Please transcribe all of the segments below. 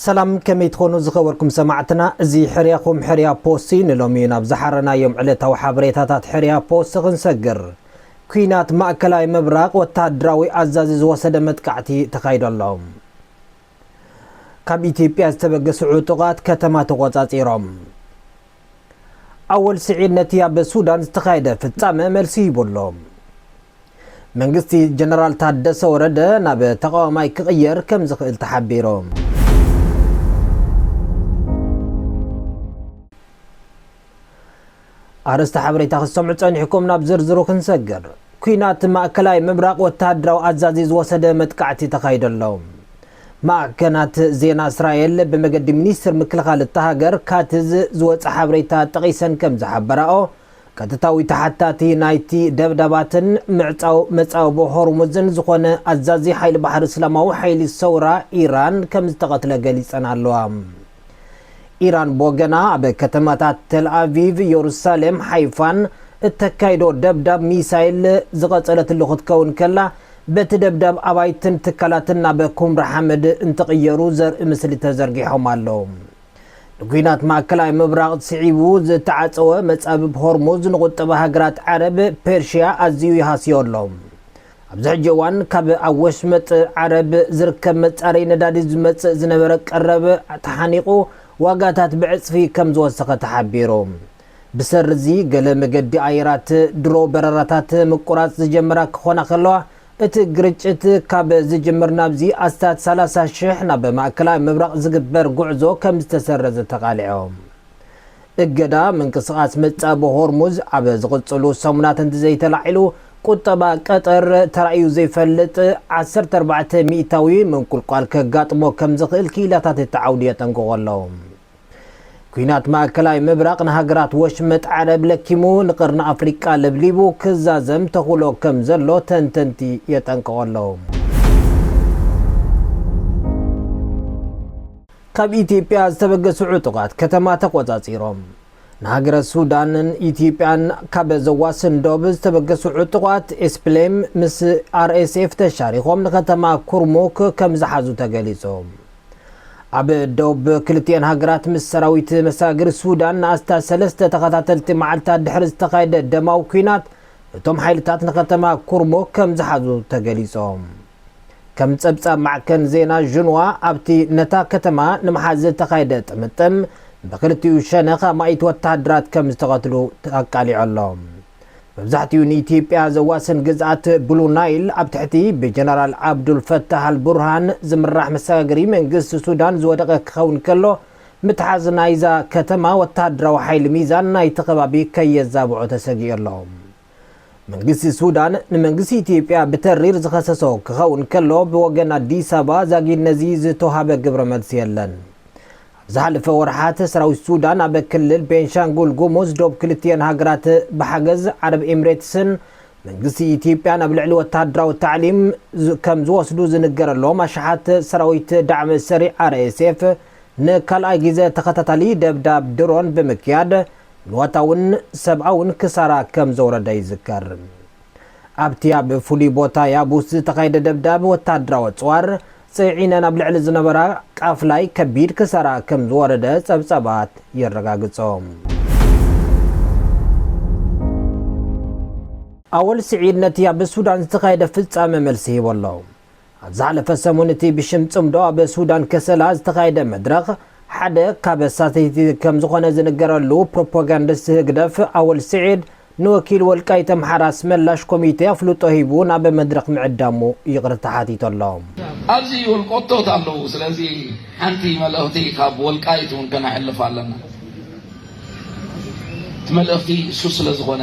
ሰላም ከመይ ትኾኑ ዝኸበርኩም ሰማዕትና እዚ ሕርያኹም ሕርያ ፖስት እዩ ንሎሚ ናብ ዝሓረናዮም ዕለታዊ ሓበሬታታት ሕርያ ፖስት ክንሰግር ኩናት ማእከላይ ምብራቕ ወተሃደራዊ ኣዛዚ ዝወሰደ መጥቃዕቲ ተኻይዶ ኣሎ ካብ ኢትዮጵያ ዝተበገሱ ዕጡቓት ከተማ ተቖጻጺሮም። ኣወል ስዒድ ነቲ ኣብ ሱዳን ዝተኻየደ ፍጻመ መልሲ ሂቡ ኣሎ። መንግስቲ ጀነራል ታደሰ ወረደ ናብ ተቓዋማይ ክቕየር ከም ዝኽእል ተሓቢሩ። ኣርእስተ ሓበሬታ ክትሰምዑ ጸኒሕኩም ናብ ዝርዝሩ ክንሰግር። ኲናት ማእከላይ ምብራቕ ወተሃደራዊ ኣዛዚ ዝወሰደ መጥቃዕቲ ተኻይዶ ኣሎ። ማዕከናት ዜና እስራኤል ብመገዲ ሚኒስትር ምክልኻል እታ ሃገር ካትዝ ዝወጸ ሓበሬታ ጠቒሰን ከም ዝሓበራኦ፣ ቀጥታዊ ተሓታቲ ናይቲ ደብዳባትን ምዕጻው መጻብቦ ሆርሙዝን ዝኾነ ኣዛዚ ሓይሊ ባሕሪ እስላማዊ ሓይሊ ሰውራ ኢራን ከም ዝተቐትለ ገሊጸን ኣለዋ። ኢራን ብወገና ኣብ ከተማታት ተልኣቪቭ፣ የሩሳሌም፣ ሓይፋን እተካይዶ ደብዳብ ሚሳይል ዝቐጸለትሉ ክትከውን ከላ፣ በቲ ደብዳብ ኣባይትን ትካላትን ናብ ኩምራ ሓመድ እንትቕየሩ ዘርኢ ምስሊ ተዘርጊሖም ኣለዉ። ንኲናት ማእከላይ ምብራቕ ስዒቡ ዝተዓጸወ መጻብብ ሆርሙዝ ንቑጠባ ሃገራት ዓረብ፣ ፐርሽያ ኣዝዩ ይሃስዮ ኣሎ። ኣብዚ ሕጂ እዋን ካብ ኣብ ወሽመጥ ዓረብ ዝርከብ መጻረዪ ነዳዲ ዝመጽእ ዝነበረ ቀረብ ተሓኒቑ ዋጋታት ብዕጽፊ ከምዝወሰኸ ተሓቢሩ። ብሰሪ'ዚ ገለ መገዲ ኣየራት ድሮ በረራታት ምቁራጽ ዝጀመራ ክኾና ከለዋ፣ እቲ ግርጭት ካብ ዝጅምር ናብዚ ኣስታት ሰላሳ ሽሕ ናብ ማእከላይ ምብራቕ ዝግበር ጉዕዞ ከምዝተሰረዘ ተቓሊዖም። እገዳ ምንቅስቓስ መጻብ ሆርሙዝ ኣብ ዝቕጽሉ ሰሙናት እንተዘይተላዒሉ፣ ቁጠባ ቀጠር ተራእዩ ዘይፈልጥ ዓሰርተ ኣርባዕተ ሚእታዊ ምንቁልቋል ከጋጥሞ ከምዝኽእል ክኢላታት እቲ ዓውዲ የጠንቅቑ ኣለዉ። ኲናት ማእከላይ ምብራቕ ንሃገራት ወሽመጥ ዓረብ ለኪሙ ንቀርኒ ኣፍሪቃ ለብሊቡ ክዛዘም ተኽእሎ ከምዘሎ ተንተንቲ የጠንቅቑ ኣለዉ። ካብ ኢትዮጵያ ዝተበገሱ ዕጡቓት ከተማ ተቖፃፂሮም። ንሃገረ ሱዳንን ኢትዮጵያን ካብ ዘዋስን ዶብ ዝተበገሱ ዕጡቓት ኤስፕሌም ምስ RSF ተሻሪኾም ንከተማ ኩርሙክ ከምዝሓዙ ተገሊፁ። ኣብ ዶብ ክልቲኤን ሃገራት ምስ ሰራዊት መሰጋገሪ ሱዳን ንኣስታት ሰለስተ ተኸታተልቲ መዓልታት ድሕሪ ዝተኻየደ ደማዊ ኲናት እቶም ሓይልታት ንከተማ ኩርሙክ ከምዝሓዙ ተገሊፆም። ከም ጸብጻብ ማዕከን ዜና ዥንዋ፣ ኣብቲ ነታ ከተማ ንምሓዝ ዝተኻየደ ጥምጥም ብክልቲኡ ሸነኽ ኣማኢት ወተሃደራት ከም ዝተቐትሉ ኣቃሊዑ ኣሎ። መብዛሕትኡ ንኢትዮጵያ ዘዋስን ግዝኣት ብሉ ናይል ኣብ ትሕቲ ብጀነራል ዓብዱል ፈታህ ኣል ቡርሃን ዝምራሕ መሰጋገሪ መንግስቲ ሱዳን ዝወደቐ ክኸውን ከሎ፣ ምትሓዝ ናይዛ ከተማ ወተሃደራዊ ሓይሊ ሚዛን ናይቲ ከባቢ ከየዛብዖ ተሰጊኡ ኣሎ። መንግስቲ ሱዳን ንመንግስቲ ኢትዮጵያ ብተሪር ዝኸሰሶ ክኸውን ከሎ ብወገን ኣዲስ ኣበባ ዛጊድ ነዚ ዝተውሃበ ግብረ መልሲ የለን። ኣብ ዝሓለፈ ወርሓት ሰራዊት ሱዳን ኣብ ክልል ቤንሻንጉል ጉሙዝ ዶብ ክልቲኤን ሃገራት ብሓገዝ ዓረብ ኤምሬትስን መንግስቲ ኢትዮጵያን ኣብ ልዕሊ ወተሃደራዊ ታዕሊም ከም ዝወስዱ ዝንገረሎም ኣሽሓት ሰራዊት ዳዕመ ሰሪዕ RSF ንካልኣይ ግዜ ተኸታታሊ ደብዳብ ድሮን ብምክያድ ንዋታውን ሰብኣውን ክሳራ ከም ዘውረደ ይዝከር። ኣብቲ ኣብ ፍሉይ ቦታ ያቡስ ዝተኻየደ ደብዳብ ወተሃደራዊ ኣጽዋር ጽዒነን ኣብ ልዕሊ ዝነበራ ቃፍላይ ከቢድ ክሳራ ከም ዝወረደ ጸብጻባት የረጋግጾ። ኣወል ስዒድ ነቲ ኣብ ሱዳን ዝተኻየደ ፍጻመ መልሲ ሂቡ ኣሎ። ኣብ ዝሓለፈ ሰሙን እቲ ብሽም ጽምዶ ኣብ ሱዳን ከሰላ ዝተኻየደ መድረኽ ሓደ ካብ ኣሳተይቲ ከም ዝኾነ ዝንገረሉ ፕሮፓጋንዲስት ህግደፍ ኣወል ስዒድ ንወኪል ወልቃይት ኣምሓራ ኣስመላሽ ኮሚቴ ኣፍልጦ ሂቡ ናብ መድረኽ ምዕዳሙ ይቕርታ ሓቲቱ ኣሎ። ኣብዚ ወልቆቶት ኣለዉ ስለዚ ሓንቲ መልእኽቲ ካብ ወልቃይት እውን ከነሕልፍ ኣለና እቲ መልእኽቲ እሱ ስለ ዝኾነ።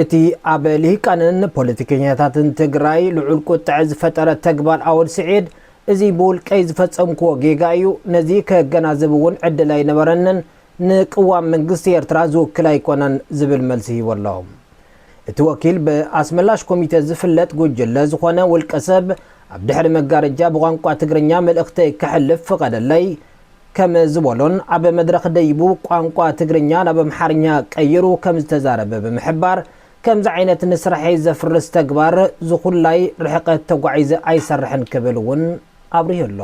እቲ ኣብ ልሂቃንን ፖለቲከኛታትን ትግራይ ልዑል ቁጥዐ ዝፈጠረ ተግባር ኣወል ስዒድ፣ እዚ ብውልቀይ ዝፈጸምኩዎ ጌጋ እዩ፣ ነዚ ከገናዝብ እውን ዕድል ኣይነበረንን፣ ንቅዋም መንግስቲ ኤርትራ ዝውክል ኣይኮነን ዝብል መልሲ ሂቡ ኣሎ። እቲ ወኪል ብኣስመላሽ ኮሚቴ ዝፍለጥ ጉጅለ ዝኾነ ውልቀ ሰብ ኣብ ድሕሪ መጋረጃ ብቋንቋ ትግርኛ መልእኽተይ ከሕልፍ ፍቐደለይ ከም ዝበሎን ኣብ መድረኽ ደይቡ ቋንቋ ትግርኛ ናብ ኣምሓርኛ ቀይሩ ከም ዝተዛረበ ብምሕባር ከምዚ ዓይነት ንስርሐይ ዘፍርስ ተግባር ዝኹላይ ርሕቐት ተጓዒዘ ኣይሰርሕን ክብል እውን ኣብሪሁ ኣሎ።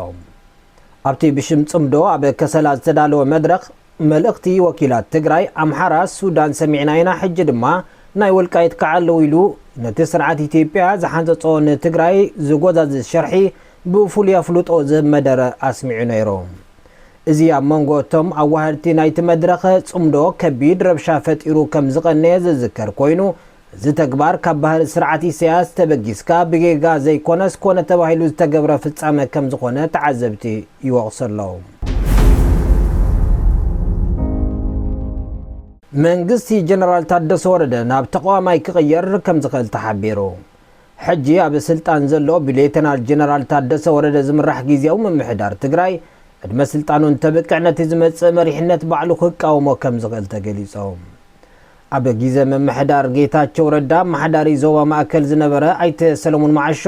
ኣብቲ ብሽም ፅምዶ ኣብ ከሰላ ዝተዳለወ መድረኽ፣ መልእኽቲ ወኪላት ትግራይ፣ ኣምሓራ፣ ሱዳን ሰሚዕና ኢና ሕጂ ድማ ናይ ወልቃይት ክዓ ኣለው ኢሉ ነቲ ስርዓት ኢትዮጵያ ዝሓንፀፆ ንትግራይ ዝጎዛዝዝ ሸርሒ ብፍሉይ ኣፍልጦ ዝህብ መደረ ኣስሚዑ ነይሩ። እዚ ኣብ መንጎ እቶም ኣዋሀድቲ ናይቲ መድረኽ ፅምዶ ከቢድ ረብሻ ፈጢሩ ከም ዝቐነየ ዝዝከር ኮይኑ፣ እዚ ተግባር ካብ ባህሪ ስርዓት ኢሳያስ ተበጊስካ ብጌጋ ዘይኮነስ ኮነ ተባሂሉ ዝተገብረ ፍጻመ ከም ዝኾነ ተዓዘብቲ ይወቕሱ ኣለዉ። መንግስቲ ጀነራል ታደሰ ወረደ ናብ ተቓዋማይ ክቕየር ከም ዝኽእል ተሓቢሩ። ሕጂ ኣብ ስልጣን ዘሎ ብሌተናል ጀነራል ታደሰ ወረደ ዝምራሕ ግዝያዊ ምምሕዳር ትግራይ ዕድመ ስልጣኑ እንተብቅዕ ነቲ ዝመጽእ መሪሕነት ባዕሉ ክቃወሞ ከም ዝኽእል ተገሊጹ። ኣብ ጊዘ ምምሕዳር ጌታቸው ረዳ ኣመሓዳሪ ዞባ ማእከል ዝነበረ ኣይተ ሰለሙን መዓሾ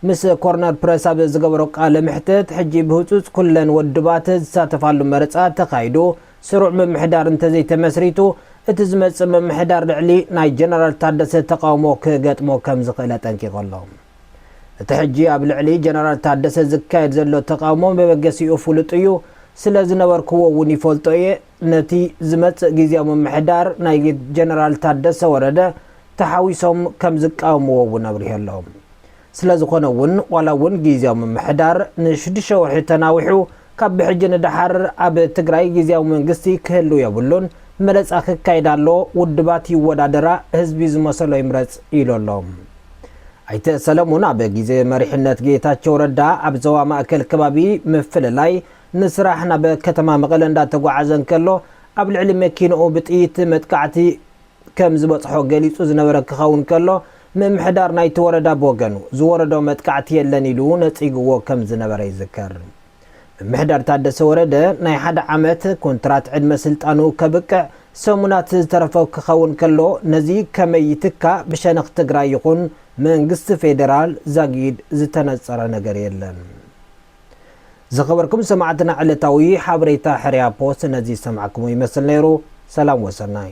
ምስ ኮርነር ፕረስ ኣብ ዝገበሮ ቃለ መሕትት ሕጂ ብህፁፅ ኩለን ወድባት ዝሳተፋሉ መረፃ ተኻይዱ ስሩዕ ምምሕዳር እንተዘይተመስሪቱ እቲ ዝመፅእ ምምሕዳር ልዕሊ ናይ ጀነራል ታደሰ ተቓውሞ ክገጥሞ ከምዝኽእል ኣጠንቂቑ ኣሎ። እቲ ሕጂ ኣብ ልዕሊ ጀነራል ታደሰ ዝካየድ ዘሎ ተቓውሞ መበገሲኡ ፍሉጥ እዩ፣ ስለዝነበርኩዎ እውን ይፈልጦ እየ፣ ነቲ ዝመጽእ ግዝያዊ ምምሕዳር ናይ ጀነራል ታደሰ ወረደ ተሓዊሶም ከምዝቃወምዎ እውን ኣብሪሁ ኣሎ። ስለዝኾነ እውን ዋላ እውን ግዝያዊ ምምሕዳር ንሽዱሽተ ወርሒ ተናዊሑ ካብ ብሕጂ ንደሓር ኣብ ትግራይ ግዝያዊ መንግስቲ ክህልው የብሉን፣ መረጻ ክካየድ ኣሎ፣ ውድባት ይወዳደራ፣ ህዝቢ ዝመሰሎ ይምረጽ ኢሉ ኣሎ። ኣይተ ሰለሙን ኣብ ግዜ መሪሕነት ጌታቸው ረዳ ኣብ ዞባ ማእከል ከባቢ ምፍልላይ ንስራሕ ናብ ከተማ መቐለ እንዳተጓዓዘ እንከሎ ኣብ ልዕሊ መኪንኡ ብጥይት መጥቃዕቲ ከም ዝበፅሖ ገሊፁ ዝነበረ ክኸውን ከሎ ምምሕዳር ናይቲ ወረዳ ብወገኑ ዝወረዶ መጥቃዕቲ የለን ኢሉ ነፂግዎ ከም ዝነበረ ይዝከር። ምምሕዳር ታደሰ ወረደ ናይ ሓደ ዓመት ኩንትራት ዕድመ ስልጣኑ ከብቅዕ ሰሙናት ዝተረፎ ክኸውን ከሎ ነዚ ከመይ ይትካእ ብሸነኽ ትግራይ ይኹን መንግስቲ ፌደራል ዛጊድ ዝተነፀረ ነገር የለን። ዝኸበርኩም ሰማዕትና ዕለታዊ ሓበሬታ ሕርያ ፖስት ነዚ ዝሰማዕክሞ ይመስል ነይሩ። ሰላም ወሰናይ።